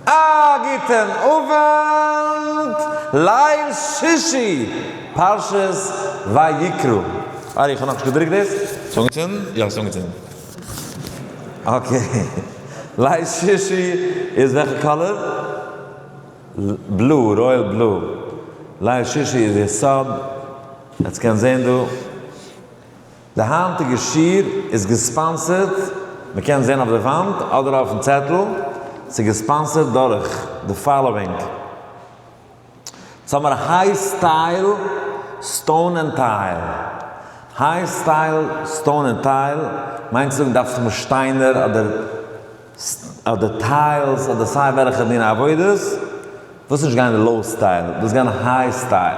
א גוטען אווענט, ליל שישי פרשת ויקרא. אה איך האב נאכנישט געדרוקט דאס. ס'איז אנגעצינדן? יא ס'איז אנגעצינדן. אקעי. ליל שישי איז וועלכע קאלער? בלו, רויעל בלו. ליל שישי איז יסוד. עטס קענט זעהן דא. די היינטיגע שיעור איז געספאנסערט, מען קען זען אויף די וואנט אדער אויפן צעטל, ס'איז געספאנסערט דורך די פאלאווינג, סאמער היי סטייל סטאון ענד טייל, היי סטייל סטאון ענד טייל מיינט צו זאגן דארפסט האבן שטיינער אדער אדער טיילס אדער סיי וועלכע דיני עבודות, דאס איז נישט גיין לאו סטייל, דאס איז גיין היי סטייל.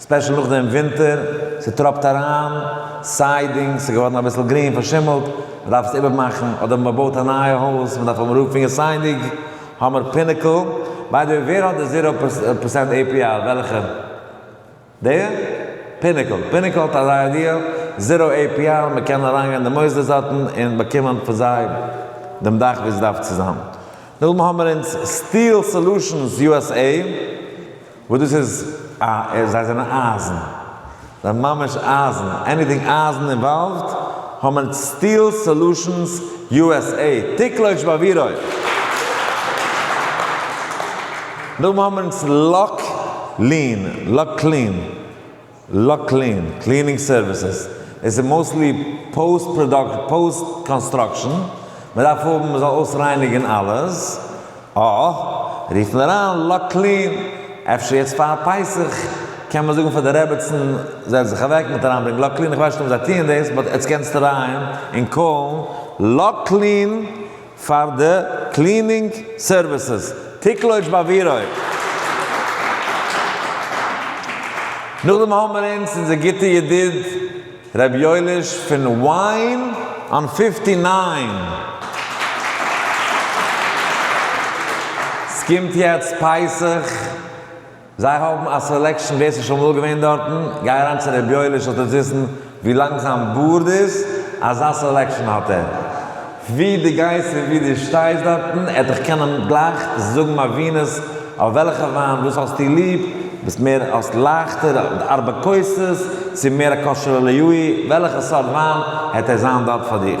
ספעשל נאך דעם ווינטער, ס'טראפט אריין, סיידינג, ס'איז געווארן אביסל גרין, פארשימלט, מ'דארף עס איבערמאכן, אדער מ'בויט א נייע הויז, מ'דארף האבן רוף פון יסיידינג, האמער פינעקל, ביי די וועי ווער האט די זירא פערסענט עי פי אר? וועלכע? די? פינעקל, פינעקל האט אזא איידיע, זירא עי פי אר, מ'קען אריינגיין אין די מוסדות דארטן און באקומען פון זיי דעם דאך ווי ס'דארף צו זיין, נאכדעם האמער אונז סטיל סעלושענס יו עס עי. וואס דאס איז א ער זיי זענען אייזן זיי ממש אייזן עניטינג אייזן אינוואלווד האמער סטיל סאלושענס יו עס עי טיקלויטש באווירוי נאכדעם האמער אונז לאק לין לאק קלין. לאקלין קלינינג סערוויסעס, עס איז מאוסטלי פאוסט פראדאקשן, פאוסט קאנסטראקשן, מען דארף האבן מען זאל אויסרייניגן אלעס, אה, רוף מיר אריין לאקלין, אפשר יעצט פאר פסח קען מען זאגן פאר די רעבעצן זעץ זיך אוועק מיט אריינברענגן לאקלין, איך ווייס נישט אויב זיי טוען דאס, באט יעצט קענסטו אריין און קאלן לאקלין. פאר די קלינינג סערוויסעס טיקלויטש ביי ווירוי. נאכדעם האבן מיר אונז אונזער גוטע ידיד ר' יואליש פון וויין אן פיפטי ניין. סקומט יעצט פסח. זיי האבן א סעלעקשן ווער ס'איז שוין אמאל געווען דארטן, גיי אריין צו ר' יואל'ער שול טוט וויסן ווי לאנג זיין בארד איז, אזא סעלעקשן האט ער. ווי דו גייסט און ווי דו שטייסט דארטן, ער וועט דיך קענען גלייך זאגן מבינות אויף וועלכע וויין, וואס האסטו ליב, ביסט מער האסט לייכטער ארבע כוסות, צו מער א כשר ללוי', וועלכע סארט וויין, העט ער זיין דארט פאר דיך.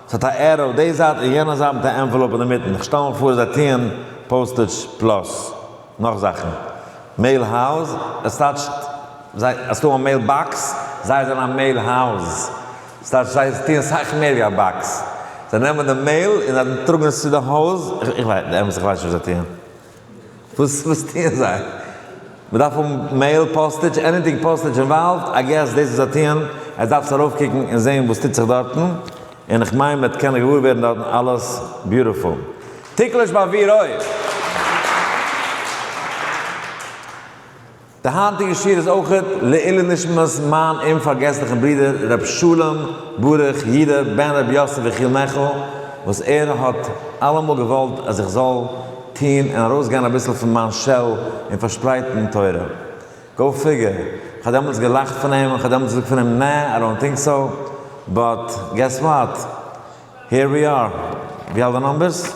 ס'האט א ערא אויף די זייט און יענע זייט מיט א ענוועלאופ אינמיטן, איך שטעל מיר פאר זיי טוען פאוסטעדזש פלאס נאך זאכן, מעיל האוז, עס טייטשט זיי אז ס'דא א מעיל באקס, זיי זענען א מעיל האוז, ס'טייטשט זיי טוען סאך מער ווי א באקס, זיי נעמען די מעיל און זיי טראגן עס צו די האוז, איך ווייס נישט וואס זיי טוען. וואס טוען זיי? מ'דארף האבן מעיל פאסטעדזש? עניטינג פאסטעדזש אינוואלווד? איי געס דאס וואס זיי טוען, עטס דארפטס ארויפקוקן און זעהן וואס טוט זיך דארטן, און איך מיין מ'וועט קענען געוואר ווערן דארטן אלעס ביוטיפול. טיקלעש באוויר אויף! די היינטיגע שיעור איז אויך לעילו נשמת מיין אומפארגעסליכן ברודער ר' שלום ברוך י ר בן ר' יוסף יחיאל מעכל, וואס ער האט אלעמאל געוואלט אז איך זאל טון און ארויסגיין אביסל פון מיין שעל און פארשפרייטן תורה. גאו פיגער. איך האב דעמאלטס געלאכט פון אים און כ'האב דעמאלטס געזאגט פון אים נע, איי דאנט טינק סאו, באט געס וואט? העיר ווי אר. ווי אלט די נומבערס?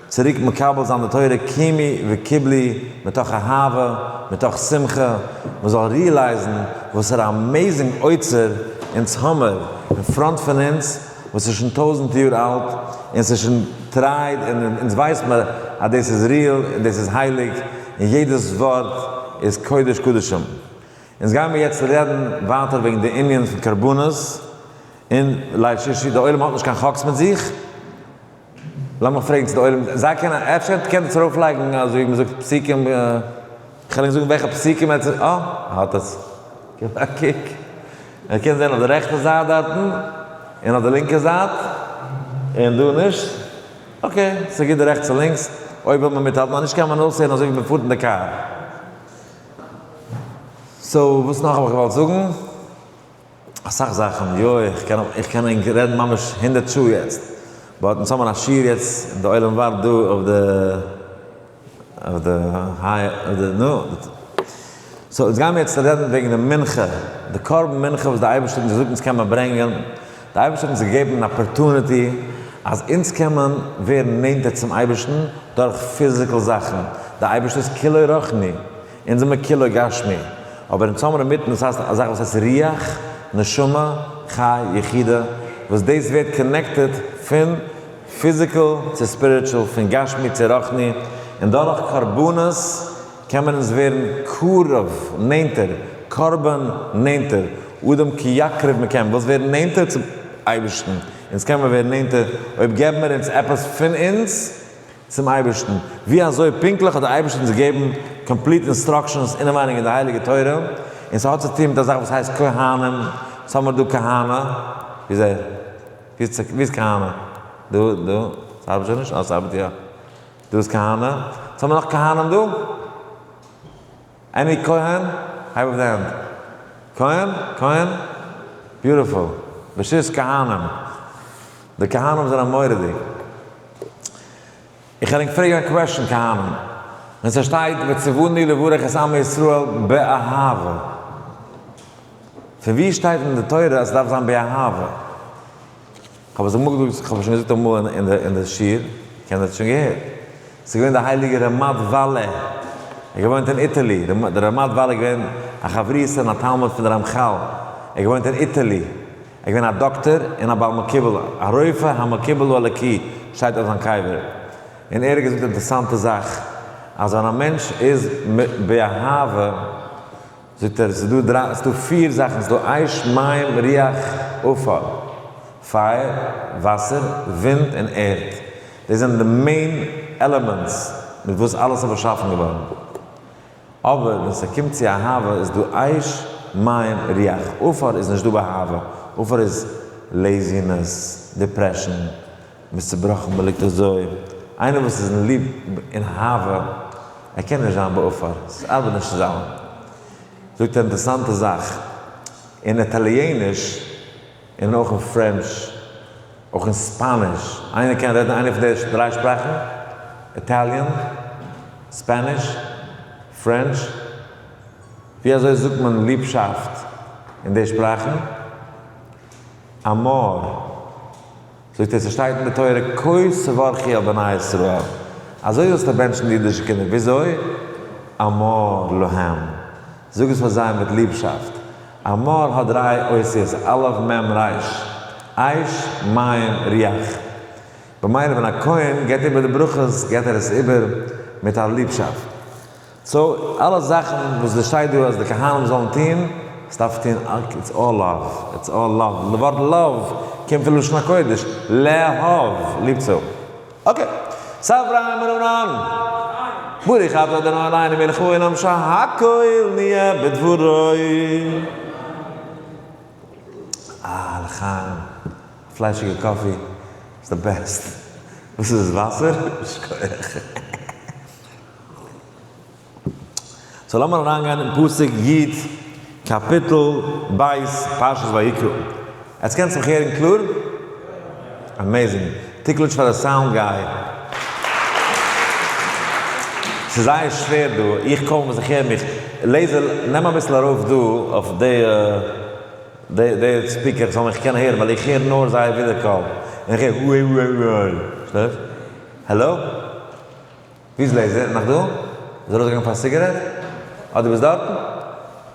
צוריק מקבל זיין די תורה קומי וקיבלי מתוך אהבה, מתוך שמחה, מען זאל ריעלייזן וואסערע אמעיזינג אוצר אונז האמער אין פראנט פון אונז וואס איז שוין טויזנט יאר אלט און ס'איז שוין טרייד און אונז ווייסט מען אז דאס איז ריעל און דאס איז הייליג און יעדעס ווארט איז קודש קדשים. אונז גיימער יעצט רעדן ווייטער וועגן די ענין פון קרבנות און ליל שישי, די עולם האט נישט קיין חקס מיט זיך, למה פרעגסט די עולם? זיי קענען, אפשר קענט עטס ארויף לייגן אז ווי מ'זאגט פסוקים, כ'על אייך זאגן וועלכע פסוקים עטס, אה, האט עס, געב א קוק, ער קען זען אויף די רעכטע זייט דארטן, און אויף די לינקע זייט, און דא נישט, אקעי, ס'איז גוט די רעכטס און לינקס, אויב וויל מען מיטהאלטן, אנישט קען מען אויסהערן אזוי ווי מען פארט אין די קאר. סאו וואס נאך האב איך געוואלט זאגן? אסאך זאכן, יא איך קען איך קען ענק רעדן ממש הונדערט שעה יעצט, באט אונז האבן א שיעור יעצט און די עולם ווארט דא אויף די אויף די היי אויף די נו סאו אונז גיימער יעצט רעדן וועגן די מנחה די קרבן מנחה וואס די אייבערשטער האט אונז געזאגט אונז קען מען ברענגען, די אייבערשטער האט אונז געגעבן אן אפערטוניטי אז אונז קען מען ווערן נענטער צום אייבערשטן דורך פיזיקל זאכן, די אייבערשטער איז כולו רוחני. אונז זעמער כולו גשמי, אבער אונז האמער אינמיטן דאס הייסט א זאך וואס הייסט רוח, נשמה, חי, יחידה, וואס דאס ווערט קאנעקטעד פון פיזיקעל צו ספיריטשול, פון גשמי צו רוחני, און דורך קרבנות קען מען אונז ווערן קרוב, נענטער, קרבן, נענטער, אדם כי יקרב מען קען וואס ווערן נענטער צום אייבערשטן, אונז קען מיר ווערן נענטער אויב געבן מיר אונז עפעס פון אונז, צום אייבערשטן, ווי אזוי פונקטליך האט דער אייבערשטער אונז געגעבן קאמפליט אינסטראקשענס אינעווייניג אין די הייליגע תורה, און ס'האט צו טון מיט א זאך וואס הייסט כהנים, וואס האמיר דא כהנא, ווי איז ער? ווי איז כהנא? דא? דא? ס'ארבעט שוין נישט? אה ס'ארבעט יא. דא איז כהנא. וואס האמיר נאך כהנים דא? עני כהן? הייב אויף די הענט. כהן? כהן? ביוטיפול. בשיס כהנים. די כהנים זענען מוראדיג. איך ענק פרעגן א קוועשן כהנים. ווען ס'שטייט וציווני לברך את עמי ישראל באהבה. פון ווי שטייט אין די תורה אז ס'דארף זיין באהבה? כ'האב עס אמאל געזאגט, כ'האב עס שוין געזאגט אמאל אין די שיעור, קענער האט עס שוין געהערט, עס איז געווען די הייליגע רמת וואלע, ער האט געוואוינט אין איטעלי, דער רמת וואלע איז געווען א חברותא און א תלמיד פון די רמחל, ער האט געוואוינט אין איטעלי, ער איז געווען א דאקטער און א בעל מקובל, א רופא המקובל הוא אלוקי שטייט אויף זיין קבר, און ער האט געזאגט אינטערסאנטע זאך, אז ווען א מענטש איז באהבה, זאגט ער ס'דא דריי ס'דא פיר זאכן ס'דא אש מים רוח עפר, פייער, וואסער, ווינט און ערד, דאס זענען די מעין עלעמענטס מיט וואס אלעס איז באשאפן געווארן, אבער ווען ס'קומט צו אהבה איז דא אש מים רוח עפר איז נישטא באהבה, עפר איז לעזינעס, דיפרעשאן, מ'איז צובראכן, מ'ליגט אזוי. איינער וואס איז אין ליב און אהבה, ער קען נישט זיין בעפאר, ס'ארבעט נישט צוזאמען. זאגט א אינטערעסאנטע זאך, אין איטאליעניש און אויך אין פרענטש, אויך אין ספאניש, איינער קען רעדן איינע פון די דריי שפראכן? איטאליען? ספאניש? פרענטש? ווי אזוי זאגט מען ליבשאפט אין די שפראכן? אמאר. זאגט ער ס'שטייט אין די תורה כה שברכי על בני ישראל, אזוי זאלסטו בענטשן די אידישע קינדער, וויאזוי? אמור להם, זאג עס פאר זיי מיט ליבשאפט, אמור האט דריי אותיות, א' מ' ר', עייש מים ריח, במילא ווען א כהן גיבט איבער די ברכות גיבט ער עס איבער מיט א ליבשאפט. סאו אלע זאכן וואס דא שטייט דא אז די כהנים זאלן טוהן, עס דארף טוהן אקט איטס אלל לאוו, איטס אלל לאוו, די ווארט לאוו קומט פון לשון הקודש לאהוב, ליב צו האבן, אקעי, סא אברהם בן אנן ברוך אתה אדוני אלוהינו מלך העולם שהכל נהיה בדברו, אה לחיים, פליישיגע קאפי איז די בעסט, וואס איז עס וואסער? שכוח. סאו לאמיר אריינגיין אין פסוק י קאפיטל ב' פרשת ויקרא. עטס קענטס מיך הערן קלאר? עמעזינג. תיקלץ' פאר די סאונד גיי. ס'איז זייער שווער דא, איך קוים ווער זיך הער מיך. לעיזער נעם אביסל ארויף דא אויף די די די ספיקער כ'זאל מיך קענען הערן ווייל איך הער נאר זייער ווידער קול. און איך הער וואו וואו וואו וואו. שטייט? העלא? ווי איז לעזער? נאך דא? איז ער ארויסגעגאנגען פאר א סיגערעט? אה דו ביסט דארטן?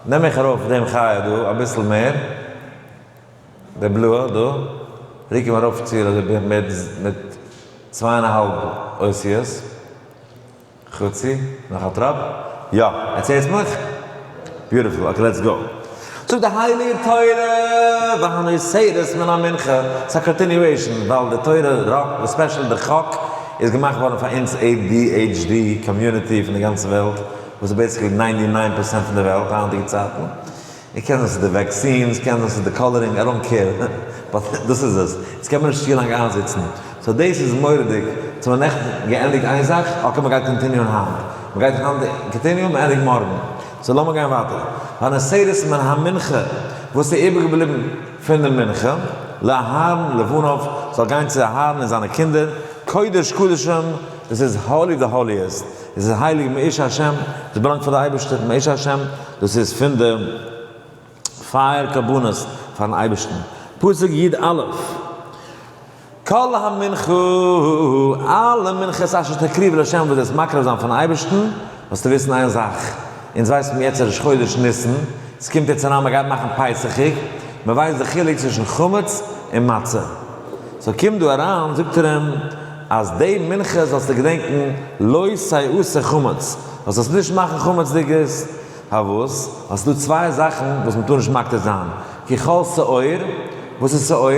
נעם איך ארויף דעם חיה דא אביסל מער, דער בלוה דא, רוק אים ארויף צו אזוי בערך מיט מיט צוויי און א האלב אותיות, חצי, נאך א טראפ, יא, ער צער'צט מיך? ביוטיפול, אקעי לעטס גאו. זאג די הייליגע תורה והנאה סעדות מן המנחה. ס'איז א קאנטיניועישן ווייל די תורה ראק און ספעשעל די חק איז געמאכט געווארן פאר אונז adhd קאמיוניטי פון די גאנצע וועלט וואס איז בעיסיקלי ניינטי ניין פערסענט פון די וועלט היינטיגע צייטן. און קען זיין ס'איז די וועקסינס קען זיין ס'איז די קאלערינג איי דאנט קעיר באט דאס איז עס. אונז קען מען נישט צו לאנג איינזיצן סאו דאס איז מורא'דיג, יעצט האבן מיר נעכטן געענדיגט איין זאך, אקעי מ'גייט קאנטיניוען היינט, מ'גייט היינט קאנטיניוען, מ'ענדיגט מארגן, סאו לאמיר גיין ווייטער, ביי נסירות מן המנחה, וואס איז איבער געבליבן פון די מנחה, לאהרן לבניו, זאל גיין צו אהרן און זיינע קינדער, קודש קדשים, דאס איז האלי די האליעסט, דאס איז הייליג מאיש השם, דאס באלאנגט פאר די אייבערשטער, מאיש השם, דאס איז פון די. פייער קרבנות פארן אייבערשטן, פסוק י א, כל המנחה, אלע מנחות אשר תקריב לה' וואס דו וועסט מקריב זיין פארן אייבערשטן, זאלסטו וויסן איין זאך, אונז ווייסט מען יעצט ראש חודש ניסן, עס קומט יעצט אריין מען גייט מאכן פסחיג, מען ווייסט די חילוק צווישן חמץ און מצה, סאו קומט דא אריין זאגט ער אים אז די מנחה זאלסטו געדענקן לא סייעו ס'חמץ, זאלסט עס נישט מאכן חמצ'דיגערס, האבות, און ס'דא צוויי זאכן וואס מ'טאר נישט מקטיר זיין, כחול שעור, וואס איז שעור?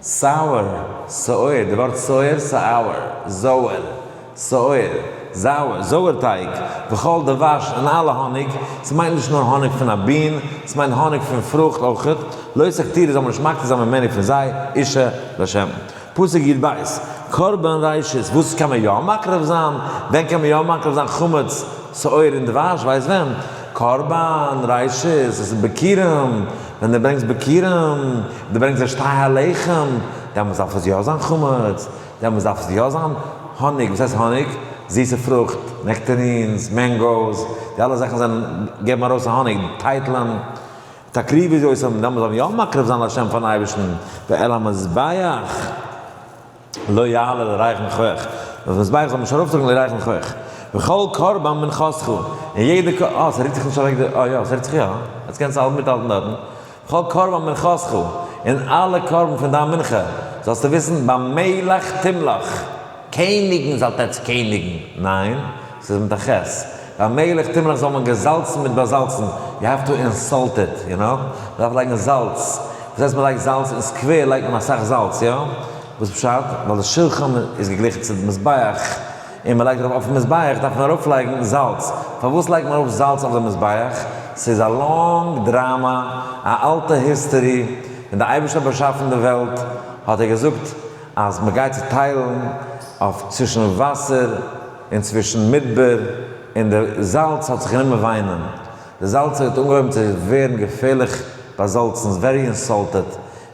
סאוער, סוער, די ווארט סוער, סאוער, זויער, סוער, זאוער, זויער טייג, וכחול דבש, און אלע האניג, ס'מיינט נישט נאר האניג פון א בין, ס'מיינט האניג פון פרוכט אויכעט, לויט ס'קטיר זאל מען נישט מקטיר זיין ממני פון זיי, אישה, לשם. פסוק יב בית, קרבן ראשית, וואס קען מען יא מקריב זיין? ווען קען מען יא מקריב זיין חמץ, שאור און דבש? ווייסט ווען? קרבן ראשית, עס איז ביכורים, ווען דו ברענגסט ביכורים, דו ברענגסט די שתי הלחם, דעמאלטס דארף עס יא זיין חמץ, דעמאלטס דארף עס יא זיין האניג, וואס הייסט האניג? זיסע פרוכט, נעקטערינס, מענגאוס, די אלע זאכן זענען, געבן ארויס א האניג, טייטלען. תקריב איז אויס און דעמאלס זאל מען יא מקריב זיין לשם פארן אייבערשטן, ועל המזבח לא יעלה לרייכן חח, אויפן מזבח זאל מען נישט ארויפטראגן די רייכן חח, וכל קרבן מנחתך, און יעדע קר אה ס'רוקט זיך נישט אוועק די אה יא ס'רוקט זיך יא, יעצט קענסט האלט מיטהאלטן דארטן, וכל קרבן מנחתך, און אלע קרבן פון דיין מנחה, זאלסטו וויסן, במלך תמלוך, קעניגן זאלט עטץ קעניגן, ניין, ס'איז מיט א ח'. ביי מילך תמלח זאל מען געזאלצן מיט באזאלצן, יו העוו טו אינסאלט איט, יו נאו? מ'דארף לייגן זאלץ. וואס הייסט מ'לייגט זאלץ? אין סקווער לייגט מען אסאך זאלץ, יא? וואס פשט? ווייל די שולחן איז געגליכן צו די מזבח, און מ'לייגט ארויף אויפן מזבח דארף מען ארויפלייגן זאלץ. פארוואס לייגט מען ארויף זאלץ אויף די מזבח? ס'איז א לאנג דראמא, א אלטע היסטערי. ווען די אייבערשטער האט באשאפן די וועלט, האט ער געזאגט אז מ'גייט צוטיילן אויף צווישן וואסער, און צווישן מדבר און די זאלץ האט זיך גענומען וויינען, די זאלצער האט אנגעהויבן צו ווערן געפערליך באזאלצן, ווערי אינסאלטעד,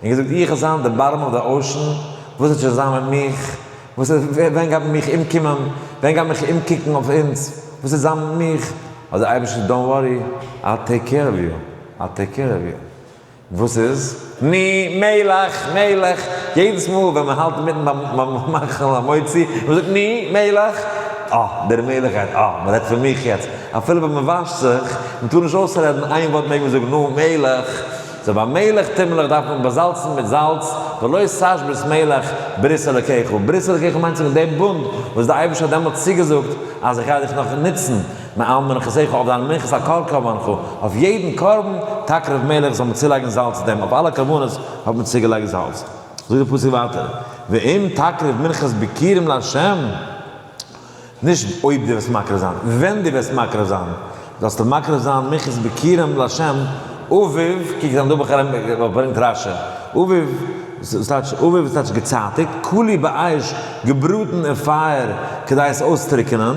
און געזאגט, איך וועל זיין די בארם אוו די אושען, וואס וועט שוין זיין מיט מיך, וואס ווער, ווען גייט מען מיך אומקומען, ווען גייט מען מיך אומקוקן אויף אונז, וואס וועט זיין מיט מיך, האט דער אייבערשטער געזאגט, דאנט ווארי, איי טעיק קעיר אוו יו, איי טעיק קעיר אוו יו. וואס איז? ני, מלך, מלך. יעדעס מאל ווען מען האלט אינמיטן ביים מאכן המוציא, און מען זאגט ני, מלך. אה, דער מלך גייט, אה, מען רעדט פון מיך יעצט. אפילו ווען מען וואשט זיך, מען טאר נישט אויסרעדן איין ווארט מעג מען זאגן נא, מלך. סאו ביי מלך תמלך דארף מען באזאלצן מיט זאלץ, ולא סש ברית מלך, ברית אלוקיך. ברית אלוקיך מיינט זאגן דעם בונד וואס דער אייבערשטער האט דעמאלטס צוגעזאגט אז איך גיי דיך נאך נוצן. נעם און כ'זעה כ'האב דיין מנחת הכל קרבן חו, אויף יעדן קרבן, טאקע רב מלך זאל מען צולייגן זאלץ צו דעם, אויף אלע קרבנות האט מען צוגעלייגט זאלץ. זאגט דער פסוק ווייטער, ואם תקריב מנחת ביקירים לה', נישט אויב דו וועסט מקריב זיין, ווען דו וועסט מקריב זיין, זאלסטו מקריב זיין מנחת ביקירים לה', אביב, קוק זיין דא בכרם וואס ברענגט רש י, אביב, וואס טייטש אביב וואס טייטש געצייטיג, כולי באש, געבראטן אין פייער כדי עס אויסטרוקענען,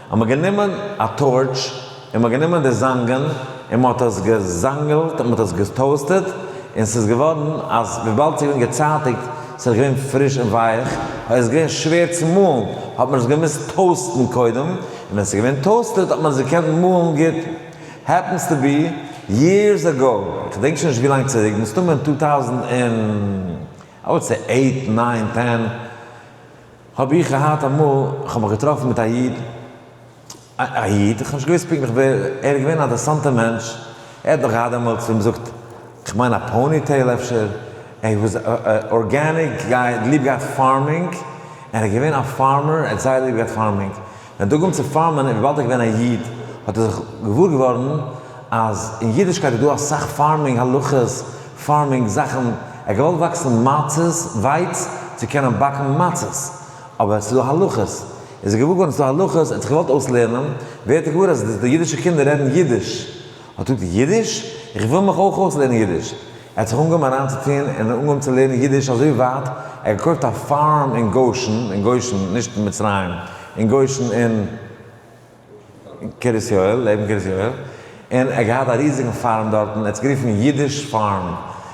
האט מען גענומען א טארטש און מען האט גענומען די זאנגען און מען האט עס געזאנגעלט און מען האט עס געטאוסטעד און ס'איז געווארן אז וויבאלד ס'איז געווען געצייטיגט ס'איז געווען פריש און ווייעך און איז געווען שווער צו מאלן האט מען עס געמוזט טאוסטן קודם און ווען ס'איז געווען טאוסטעד האט מען עס געקענט מאלן גוט העפענס טו בי יערס אגאו איך געדענק שוין נישט ווי לאנג צוריק מסתמא אין טו טאוזענד און איי וואלד סעי עיט ניין טען. האב איך געהאט אמאל, איך האב מיך געטראפן מיט א איד, א א איד, איך האב נישט געוואוסט פונקטליך ווער, ער איז געווען א אדערסאנטער מענטש, ער האט דאך געהאט דעמאלטס ווי מ'זאגט, כ'מיין א פאוני טעיל אפשר, ער וואס ארגעניק גייט, ליב געהאט פארמינג, ער איז געווען א פארמער, ער האט זייער ליב געהאט פארמינג. ווען דגמ צ פארמען איז וויבאלד ער איז געווען א איד האט ער זיך געוואר געווארן אז אין אידישקייט איז דא אסאך פארמינג הלכות, פארמינג זאכן, ער האט געוואלט וואקסן מצות, ווייץ, צו קענען באקן מצות, אבער ס'איז דא הלכות, ער איז זיך געוואר געווארן ס'איז דא הלכות, ער האט זיך געוואלט אויסלערנען, ווערט ער געוואר אז די אידישע קינדער רעדן אידיש, ער טוט ייִדיש? איך וויל מיך אויך אויסלערנען ייִדיש. ער האָט זיך אָנגעהויבן אַרײַנצוטאָן און אָנגעהויבן צו לערנען ייִדיש אַזוי ווײַט, ער האָט געקויפֿט אַ פֿאַרם אין גושן, אין גושן, נישט אין מצרים, אין גושן אין קרית-יואל, לעבן קרית-יואל, און ער האָט געהאַט אַ ריזיקן פֿאַרם דאָרטן, ער האָט עס גערופֿן ייִדיש-פֿאַרם.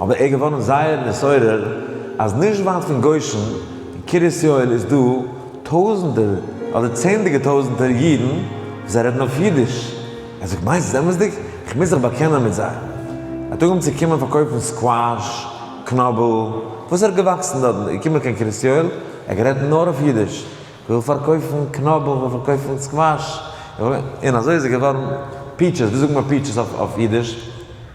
אבער ער איז געווארן זייער נתעורר אז נישט ווייט פון גושן אין קרית יואל איז דא טויזענטער אדער צענדליגער טויזענטער אידן וואס זיי רעדן אויף אידיש. ער זאגט מיינסט עס אמת'דיג? איך מוז זיך באקענען מיט זיי. ער האט אנגעהויבן צו קומען פארקויפן סקוואש, קנאבל, וואס ער איז געוואקסן דארטן, איז געקומען קיין קרית יואל, ער האט גערעדט נאר אויף אידיש, איך וויל פארקויפן קנאבל, איך וויל פארקויפן סקוואש, איך וויל, און אזוי איז ער געווארן פיטשעס, ווי זאגט מען פיטשעס אויף אידיש?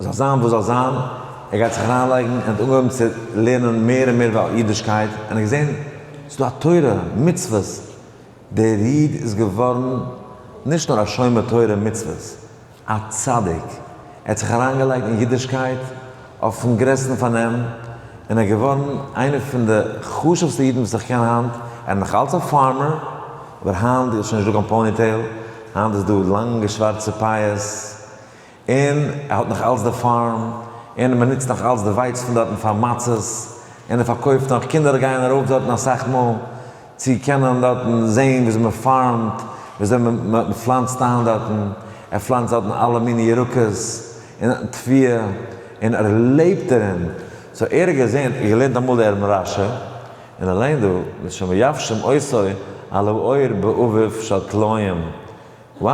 זאל זיין וואס זאל זיין, ער גייט זיך אריינלייגן, ער האט אנגעהויבן צו לערנען מער און מער איבער אידישקייט, און ער האט געזען ס'איז דא א תורה, מצוות, דער איד איז געווארן נישט נאר א שומר תורה און מצוות, א צדיק, ער האט זיך אריינגעלייגט אין אידישקייט אויפן גרעסטן פארנעם, און ער איז געווארן איינער פון די חשוב'סטע אידן וואס איך קען היינט, ער איז נאך אלץ א פארמער, אבער היינט איז שוין נישטא קיין פאוניטעיל, היינט איז דא לאנגע שווארצע פאות. און ער האט נאך אלץ די פארם, און מען נוצט נאך אלץ די ווייץ פון דארטן פאר מצות, און ער פארקויפט נאך, קינדער גייען ארויף דארטן אסאך מאל, צו קענען דארטן זעהן וויאזוי מען פארמט, וויאזוי מען פלאנצט איין דארטן, ער פלאנצט דארטן אלע מיני ירקות, און טביה, און ער לעבט דערין, סאו ער האט געזעהן, און געלערנט אמאל די ערן רשע, און ער לערנט דא, ושמייבשים עשו על האור באביב של תלויים. Wow!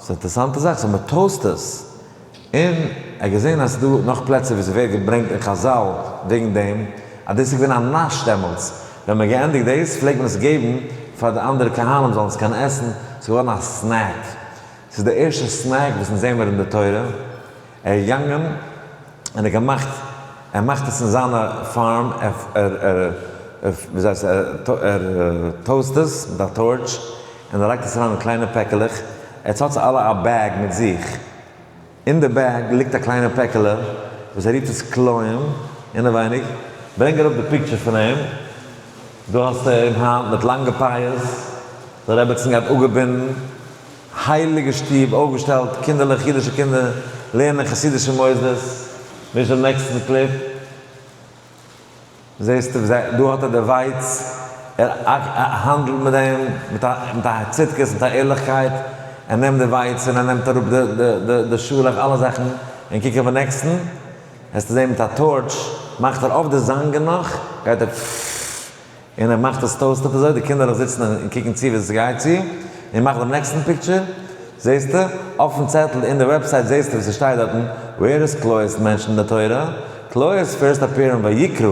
ס'איז א אינטערעסאנטע זאך, סאו מען טאוסט עס. און ער האט געזען אז ס'דא נאך פלעצער וואו ס'ווערט געברענגט אין חזל וועגן דעם, אז דאס איז געווען א נאש דעמאלטס. ווען מ'האט געענדיגט דאס, פלעגט מען עס געבן פאר די אנדערע קהלים זאלן עס קענען עסן, ס'איז געווארן א סנעק. ס'איז די ערשטע סנעק וואס אונז זעמער אין די תורה. ער איז געגאנגען און ער געמאכט ער מאכט עס אין זיינע פארם ער טאוסט עס מיט א טארטש און ער לייגט עס אריין אין קליינע פעקעלעך עטס האטס אלע א בעג מיט זיך אין די בעג ליגט א קליינע פעקעלע וואס ער ריפט עס כלאים אינעווייניג ברענג אראפ די פיקטשער פון אים דא האסטו אים היינט מיט לאנגע פייערס די רעבעצן גייט אפגעבינדן הייליגע שטוב אויפגעשטעלט, קינדערלעך, אידישע קינדער, לערנען אין חסידישע מוסדות, נישט דעם נעקסטן קליפ, זעסט ווי זיי, דא האט ער די ווייץ, ער האנדלט מיט דעם מיט א מיט א צדקות, מיט א ערליכקייט, ער נעמט די ווייץ און ער נעמט אראפ די די די די שאלעך, אלע זאכן, און קוק אויפן נעקסטן, וועסטו זען מיט א טארטש, מאכט ער אויף די זאנגען נאך, גייט ער פפפפפפ. און ער מאכט עס טויזט אויף אזוי די קינדערלעך זיצן און קוקן צו ווי עס גייט צו, און מאך דעם נעקסטן פיקטשער, זעסטו, אויפן צעטל אין די וועבסייט זעסטו וואס עס שטייט דארטן, ווער איז קלוי'ס מענטש אין די תורה? קלוי'ס פירסט אפעיר אין ויקרא,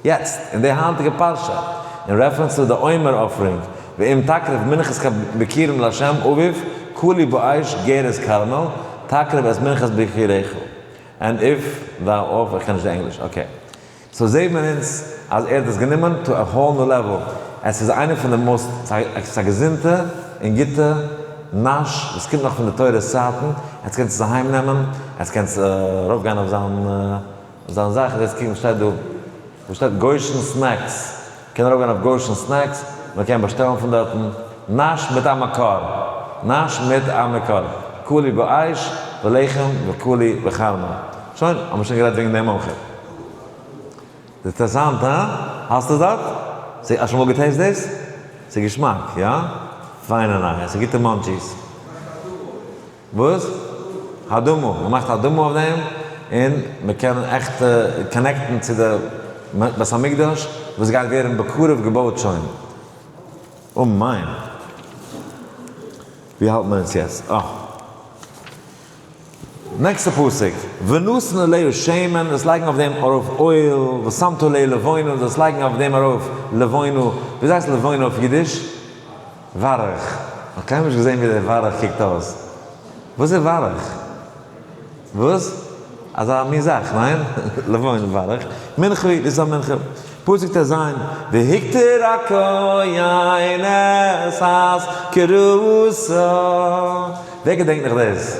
יעצט, אין די היינטיגע פרשה, אין רעפרענס צו די עומר אפערינג, ואם תקריב מנחת כביקירים לה' אביו, כולי באש גערס כרמל, תקריב את מנחת ביקיריך. ענד איף, וואו אויף, איך קען נישט די ענגליש, אקעי. סאו זעהט מען אונז אז ער האט דאס גענומען טא א האול ניו לעוועל, עס איז איינע פון די מאסט, עס איז א געזונטע און גוטע נאש וואס קומט נאך פון די תורות צייטן, עטס קענטס עס אהיים נעמען, עטס קענטס ארויף גיין אויף זיין זיין זאך, און עטס קוקן וואס שטייט דא, וואס שטייט גויאישן סנעקס. קען ארויפגיין אויף גושן סנעקס, מען קען באשטעלן פון דארטן, נאש מיט א מקור, נאש מיט א מקור, קולי באש ולחם וקולי בחלמא. שוין, האמיר שוין גערעדט וועגן דעם אויך. איז אינטערעסאנט, הא? האסט עס דארט? ס'איז, האסט שוין אמאל געטעיסט דאס? ס'איז געשמאק, יא? פיינע נייעס, ס'איז גוטע מאנטשיס. וואס? האדמו ר מאכט האדמו אויף דעם און מען קען עכט קאנעקטן צו די בית המקדש וואס גייט ווערן בקרוב געבויט שוין, אמן. ווי האלט מען אונז יעצט? אה. נעקסטע פסוק, ונתן אליהו שמן, דאס לייגן אויף דעם ארויף אויל, ושמת עליה לבונה, דאס לייגן אויף דעם ארויף לבונה, ווי איז דאס לבונה אויף אידיש? ווארעך, כ'האב קיינמאל נישט געזען ווי דער ווארעך קוקט אויס. וואס איז ווארעך? וואס? אזא מין זאך, ניין? לבון, ווארעך. מנחה איז דאס א מנחה. פסוק ט ז, והקטיר הכהן את הס כרעותה. ווער געדענקט נאך דאס?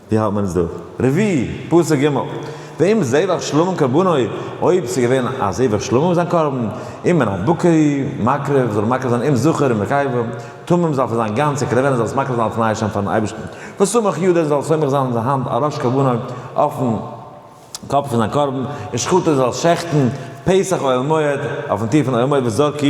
ווי האלט מען עס דא? רביעי, פסוק ג', ואם זבח שלמים קרבנו, אויב ס'איז געווען א זבח שלמים זיין קרבן, אם מן הבקרי, מקריב, זאל ער מקריב זיין אם זכר אם נקבה, תמים זאל פון זיין גאנצע קרעווענען זאל ער עס מקריב זיין אלס ניי שם פארן אייבערשטן, וסומך ידיו זאל ער סומך זיין זיין האנט על ראש קרבנו אויפן. קאפ פון זיין קרבן און שחט עס אלס שעכטן פסח אוהל מועד אויפן טיר פון אוהל מועד וזרקי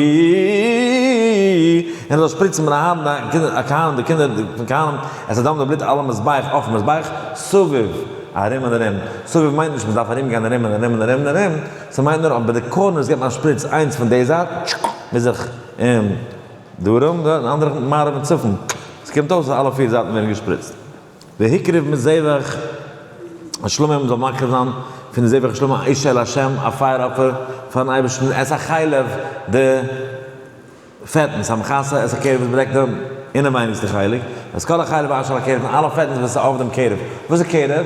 און ער זאל שפריצן מן הארון הכהנים און די קינדער פון כהנים את הדם לבלוט על המזבח אויפן מזבח סביב ארום און ארום, סביב מיינט נישט מען דארף ארום גיין ארום און ארום און ארום און ארום, ס'מיינט נאר אז ביי די קארנערס גיבט מען א שפריץ איינס פון די זייט טשק מזרח און דרום און די אנדערע מערב און צפון, ס'קומט אויס אז אלע פיר זייטן ווערן געשפריצט. והקריב מזבח השלמים מען זאל מקריב זיין פון די זבח השלמים א איש אל השם א פייער אפער פארן אייבערשטן עס א חלב די פעטנס המכסה את הקרב וואס באדעקט די אינעווייניגסטע חלק את כל החלב אשר על הקרב און אלע פעטנס וואס איז אויף דעם קרב, וואס איז קרב?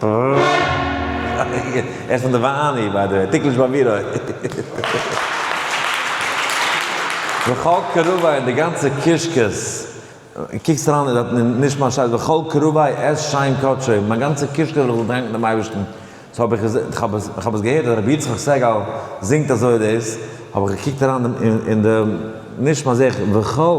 ער איז פון די ואני ביי די וועי, טיקליש ביי מיר אויך. וכל קרוביה און די גאנצע קישקעס, קוקסט אריין אין דער נשמת שטייט וכל קרוביה עס שיין קדשו, מיין גאנצע קישקע וועל איך דאנקן דעם אייבערשטן, האב איך איך האב עס געהערט אז רבי יצחק סעגאל זינגט אזוי דאס, האב איך געקוקט אריין אין די נשמה זעה איך וכל.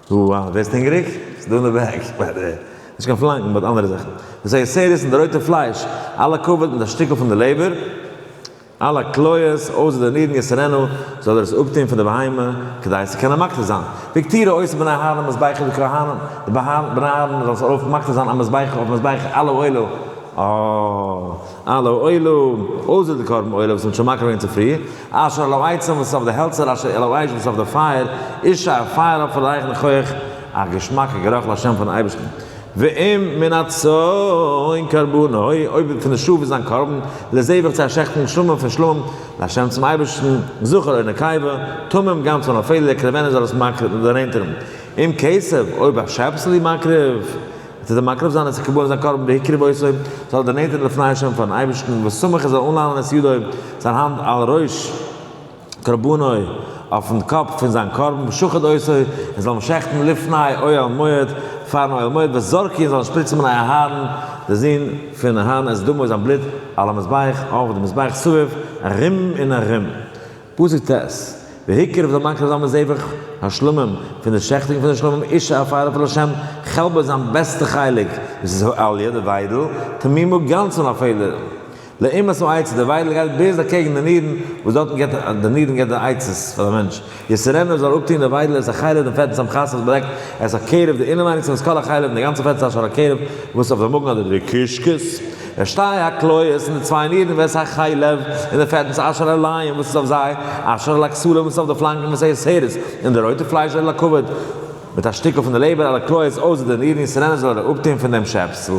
דו ווערסט הונגעריג? ס'איז דא אין די בעג ביי די. נישט קיין פלאנקן באט אנדערע זאכן. דאס הייסט סעריס און די רויטע פלייש, אלע קאווערט מיט א שטיקל פון די לעבער, אלע כליות, אויסער די נירן יסערנו, זאל ער עס אפטון פון די בהמה, כדי עס צו קענען מקטיר זיין. ויקטירו עושה בני אהרן מזבחי לכהנים, די בהן, בני אהרן, זאלן עס ארויף מקטיר זיין א מזבח אויפן מזבח על האוהלה, אה, על האוהלה, אויסער די קרבן עולה וואס מ'האט שוין מקריב געווען צופרי. אשר על העצים וואס איז אויף די העלצער, אשר על האש וואס איז אויף די פייער, איש א פייער אויף א רייכן כח, א געשמאקע גערוך לשם פארן אייבערשטן. ואם מן הצאן קרבנו, אויב פון די שאף איז זיין קרבן, לזבח צו א שעכטונג שלמים פון שלמים, לשם צום אייבערשטן, זכר או נקבה, תמים גם צאן א פעלד, יקרבנו זאל עס מקריב דערנענטערן. אם כסף, אויב א שעפסל אי מקריב. עס איז אים מקרב זיין צו קבלן זיין קרבן בהקרבותו, זאל ער דערנענטערן די פני השם פארן אייבערשטן, וסמוך ער זאל אנלאנען את ידו, זיין האנט, על ראש קרבנו, אויפן קאפ פון זיין קרבן, ושחט אותו, און זאל אים שעכטן לפני אוהל מועד, פארן אוהל מועד, וזרקו, און זאל ער שפריצן בני אהרן, די זון פון אהרן, את דמו, זיין בלוט, על המזבח, אויף די מזבח, סביב, ארום און ארום. פסוק ט', והקרב זאל מקריב זיין מזבח השלמים פון די שעכטונג פון די שלמים, איש העפר עפר לשם, כלב איז זיין בעסטע חלק, דאס איז העליה, די וויידל, תמימו גאנץ אן א פעלער, לעימת העצה, די וויידל גייט בייז אקעגן די נירן, וואס דארטן געט די נירן געט די עצות פאר די מענטש, יסרנו ער זאל אפטון די וויידל, ער איז החלב דעם פעטן צום חסך, בלעקט ער איז הקרב די אינעווייניגס פון דאס כל החלב, דער גאנצער פעט איז א שור הכרב, וואס איז אויף די מאגן אדער די קישקעס. ווען שתי הקלעות און די צוויי נירן ווער ס'איז א חי לב, און די פעטנס אשר על העליים וואס איז אויף זיי, אשר על הכסלים וואס איז אויף די פלאנקן וואס איז שערות, און די רויטע פלייש אשר על הכבד, מיט א שטיקל פון די לעבער על הכליות אויסער די נירן און ס'רענען זאל ער אפטון פון דעם שעפסל.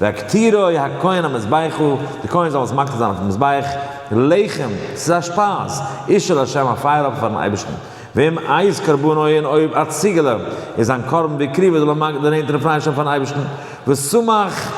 והקטירו הכהן המזבחו, די כהן זאל עס מקטיר זיין אויפן מזבח, לחם, ס'איז א שפייז, איש אל השם א פייער אפער פארן אייבערשטן. וועם איז קרבן אוהן אויב א ציגעלע איז אן קרבן דקריבה דלא מגע דנענטער און פריי שם פארן אייבערשטן ושמח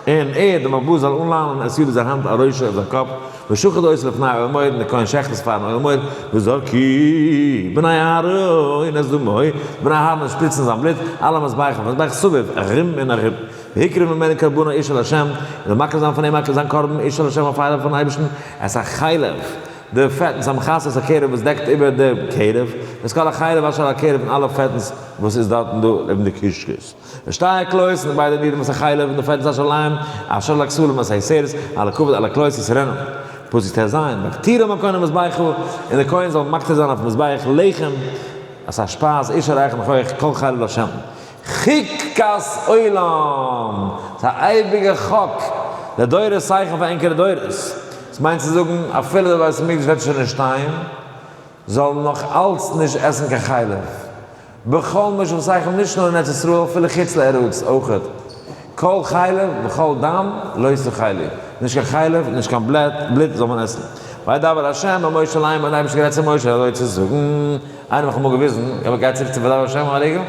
און ער דער מלבוש זאל אנלאנען עס יבער זיין האנט על ראשו אויף זיין קאפ ושחט אויס לפני אוהל מועד און דער כהן שחט עס פארן אוהל מועד וזרקי בני אהרן את דמו בני אהרן וועלן שפריצן זיין בלוט אלע מזבחים מזבח סביב ארום און ארום ויקרב ממנו קרבנו איש אל השם און זאל מקריב זיין פון אים מקריב זיין קרבן איש אל השם א פייער פארן אייבערשטן עס א חלב די פעטנס האבן חסות א קערב וואס דעקט איבער די קערב, איז כל החלב אשר על הקערב פון אלע פעטנס וואס איז דארטן דא אויבן די קישקעס און שטייער קלויזן און ביידע נירן וואס א חלב און די פעטנס אשר עליהם אשר על הכסלים אשר על השערות על הכבד על הקלויז וואס רענען פסוק ט ז מקטירין מקום למזבחו און די כהן זאל מקטיר זיין אויפן מזבח לחם אסאך שפייז איש הרייך און הויך כל חלב לשם. חק כס עולם, ס'איז א אייביגע חק לדורות סייכן פאר ענקערע דורות, עס מיינט צו זאגן אפילו די בית המקדש וועט שוין נישט שטיין, זאלן נאך אלץ נישט עסן קיין חלב בכל משום סייכן נישט נאר אין ארץ ישראל אפילו חוץ לארץ אויכעט, כל חלב וכל דם לא ישא חלי, נישט קיין חלב, נישט קיין בלעט, בלוט זאל מען עסן. וידבר ה' אל משה לאמר, און דער אייבערשטער האט גערעדט צו משה אזוי צו זאגן, איינער האט מיך אמאל געוויזן, איך בין גייט צוריק צו וידבר ה' אל עגל, איינער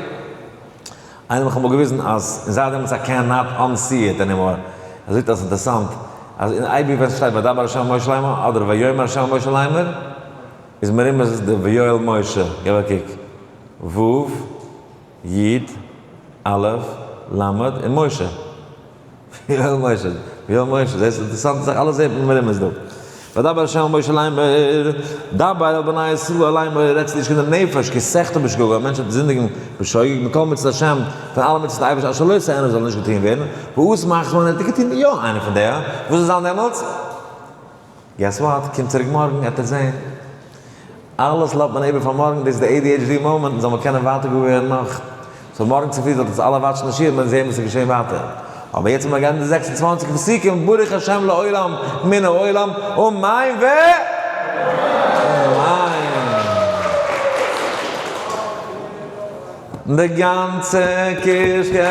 האט מיך אמאל געוויזן אז און זייט דעמאלטס איי קען נאט אנסי איט ענימאר, ער זאגט אז אינטערסאנט אז אין איי בוק ווען ס'שטייט וידבר ה' אל משה לאמר אדער ויאמר ה' אל משה לאמר איז מרומז די ויואל משה, געב א קוק, ו'. י, א', ל', און משה. ויואל משה, ויואל משה, זעסט? אינטערעסאנט זיך אלעס זעט מען מרומז דא. וידבר ה' אל משה לאמר, דבר אל בני ישראל לאמר, רעד צו די קינדער נפש, כי סחטא בשגגה, א מענטש וועט זינדיגן בשוגג, מכל מצות ה', פון אלע מצות אייבערשטן, אשר לא יעשה ענוו זאל נישט געטוהן ווערן, וואס מאכט מען און ער האט געטוהן יא איינע פון די, וואס זאל זיין דעמאלטס? געס וואט, קום צוריק מארגן עט ער זעהן. אלעס לאזט מען איבער פאר מארגן, דאס איז די adhd מאמענט, און זאל מען קענען ווייטער גאר ווערן נאך. סאו מארגן צופרי זאלט אונז אלע וואטשן די שיעור, מען זעהן וואס איז געשעהן ווייטער. אבער יעצט וועל מען געבן די זעקס און צוואַנציק פסוקים ברוך השם לעולם מן העולם, אמן ו אמן. די גאנצע קישקע.